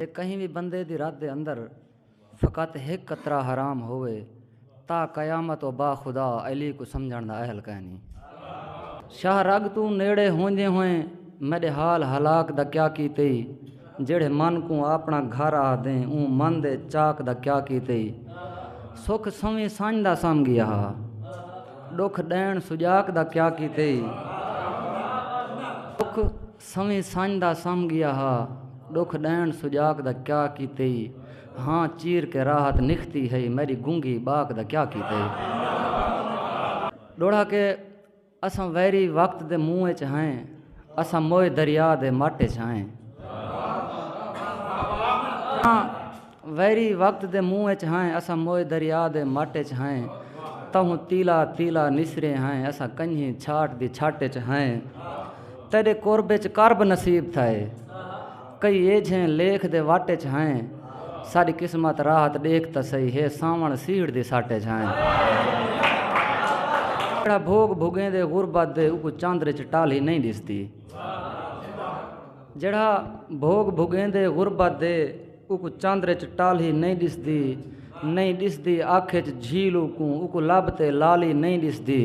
جے کہیں وی بندے دی رت دے اندر فقط ہک قطرہ حرام ہووے تاں قیامت او با خدا علی کوں سمجھݨ دا اہل کائنی۔ شاہ رگ توں نیڑے ہوندیں ہوئیں میݙے حال ہلاک دا کیا کیتے ای جیڑھے من کوں آپݨا گھر آہدیں اوں من دے چاک دا کیا کیتے ای سکھ سویں سنڄ دا سم ڳیا ہا ݙکھ ݙیݨ سڄاک دا کیا کیتے ای سکھ سویں سنڄ دا سم ڳیا ہا۔ ݙکھ ݙیݨ سجاک دا کیا کیتے ای۔ ہاں چیر کے راحت نکھتی ہئی۔ میݙی گنگھی ٻاک دا کیا کیتے ای۔ ݙوہڑا کے اساں ویری وقت دے منہ اچ ہئیں۔ اساں موئے دریا دے مٹ اچ ہئیں۔ ویری وقت دے منہ اچ ہائیں اساں موئے دریا دے مٹ اچ ہائیں تہوں تیلا تیلا نسرے ہائیں اساں کنجھیں چھاٹ دی چھٹ اچ ہائیں تیڈے قرب اچ کرب نصیب تھائے کئی ایجھیں لیکھ دے وٹ اچ ہائیں ساڈی قسمت راحت ڈیکھ تا سہی ہے ساون سیڑھ دی سٹ اچ ہائیں جڑا بھوگ بھگیں دے غربت دے اوکو چاندر اچ ٹالھی نہیں ڈسدی جڑا بھوگ بھگیں دے غربت دے اوکوں چندر اچ ٹالھی نئیں ڈسدی نئیں ڈسدی اکھ اچ جھیل اوکوں اوکوں لب تے لالی نئیں ڈسدی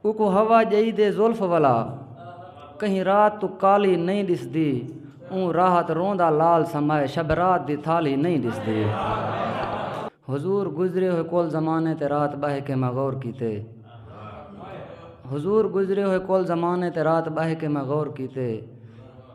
اوکوں ہوا جئی دے زلف ولا کہیں رات تو کالی نئیں ڈسدی اوں راحت روندا لال سمائے شب رات دی تھالی نئیں ڈسدی حضور گزرے ہوئے کل زمانے تے رات بہہ کے میں غور کیتے حضور گزرے ہوئے کل زمانے تے رات بہہ کے میں غور کیتے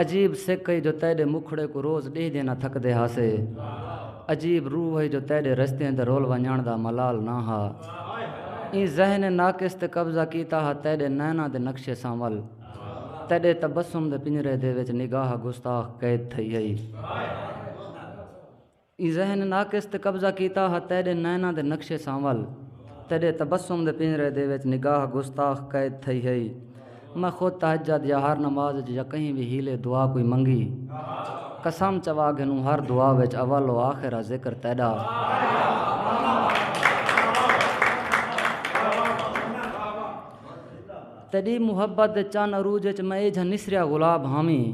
عجیب سکھ ہئی جو تیڈے مکھڑے کوں روز ڈیہدے نہ تھکدے ہاسے۔ عجیب روح ہئی جو تیڈے رستیاں تے رول ونجنڑ دا ملال نہ ہا۔ ایں ذہن ناقص تے قبضہ کیتا ہا تیڈے نیناں دے نقشے سانول۔ تیڈے تبسم دے پنجرے دے وچ نگاہ گستاخ قید تھئی ہئی۔ ایں ذہن ناقص تے قبضہ کیتا ہا تیݙے نیناں دے نقشے سانول تیݙے تبسم دے پنجرے دے وچ نگاہ گستاخ قید تھئی ہئی میں خود تہجد یا ہر نماز وچ یا کہیں وی حیلے دعا کوئی منگی قسم چوا گھنوں ہر دعا وچ اول و آخر آ ذکر تیݙا تیݙی محبت دے چن عروج اچ میں ایجھا نسریا گلاب ہاویں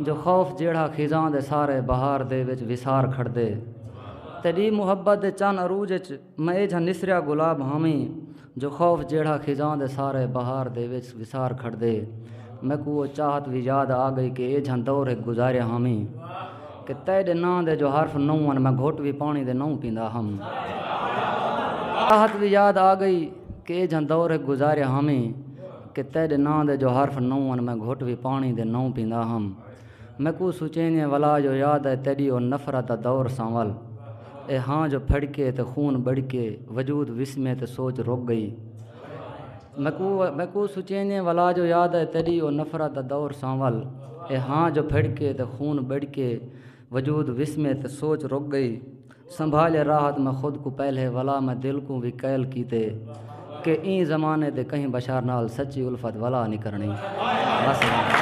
جو خوف جیڑھا خزاں دے سارے بہار دے وچ وسار کھڑدے تیݙی محبت دے چن عروج اچ میں ایجھا نسریا گلاب ہاویں جو خوف جیڑھا خزاں دے سارے بہار دے وچ وسار کھڑدے میکوں او چاہت وی یاد آ ڳئی کہ ایجھا دور ہک گزاریا ہاویں کہ تیݙے ناں دے جو حرف نو ہن میں گھٹ وی پاݨی دے نو پیندا ہم چاہت وی یاد آ ڳئی۔ کے جھاں دور ہک گزاریا ہمیں کہ تیڈے ناں دے جو حرف نو ہن میں گھٹ وی پانڑی دے نو پیندا ہم میکوں سوچیندے ولا جو یاد آئے تیڈی او نفرت دا دور سانول اے ہاں جو پھڑکے تے خون بڑکے وجود وسمے تے سوچ رک گئی میکوں سوچیندے ولا جو یاد آئے تیڈی او نفرت دا دور سانول اے ہاں جو پھڑکے تے خون بڑکے وجود وسمے تے سوچ رک گئی۔ سنبھالے راحت میں خود کوں پہلے ولا میں دل کوں وی قیل کیتے کہ ایں زمانے دے کہیں بشر نال سچی الفت ولا نی کرنڑیں بس ہن